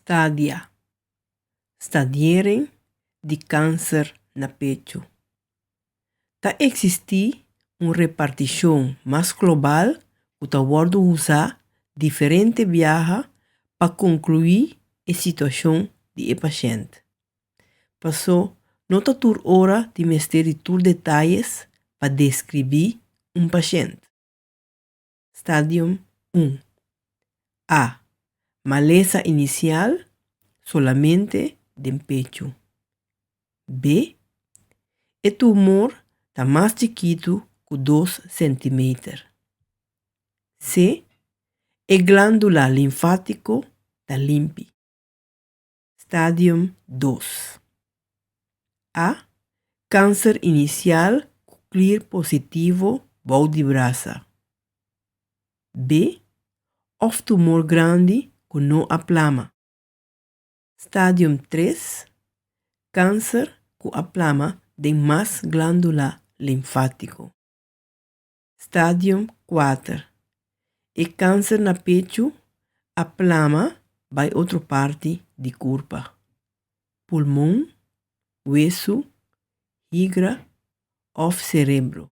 Stadia, stadiering di kanser na pechu. Ta eksistí un repartishon mas global ku ta wòrdu usá diferente biaha pa konkluí e situashon di e pashènt. Pasó no ta tur ora tin mester di tur detayes pa deskribí un pashènt. Stadium un. A. Malesa inisial solamente den pechu. B. E tumor ta mas chikitu ku dos sentimeter. C. E glándula linfátiko ta limpi. Stadium dos. A Kanser inisial ku klur positivo bou di brasa. B Òf tumor grandi ku no a plama. Stadium tres Kanser ku a plama den mas glándula limfátiko. Stadium kuater. E kanser na pechu a plama bai otro parti di kurpa, pulmon, wesu, higra òf serebro.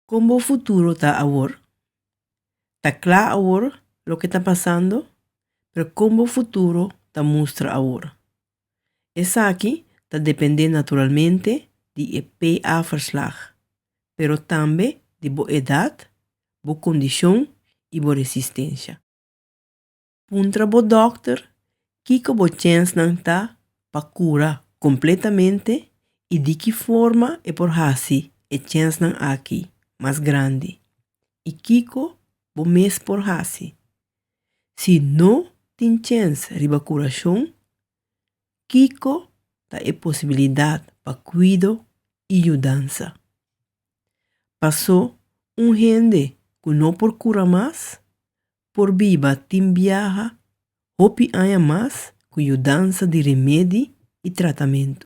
Kon bo futuro ta awor? Ta kla awor loke ta pasando, pero kon bo futuro ta mustra awor? Esaki ta dependé naturalmente di e PA-verslag, pero tambe di bo edat, bo kondishon i bo resistensia. Puntra bo dòkter kiko bo chènsnan ta pa kura kompletamente i di ki forma e por hasi e chènsnan aki mas grandi i kiko bo mes por hasi. Si no tin chens riba curashon, kico ta e posibilidad pa cuido y yudansa? Paso un hende cu no por cura mas por biba tin biaha hopi aña mas cu yudansa di remedi y tratamento.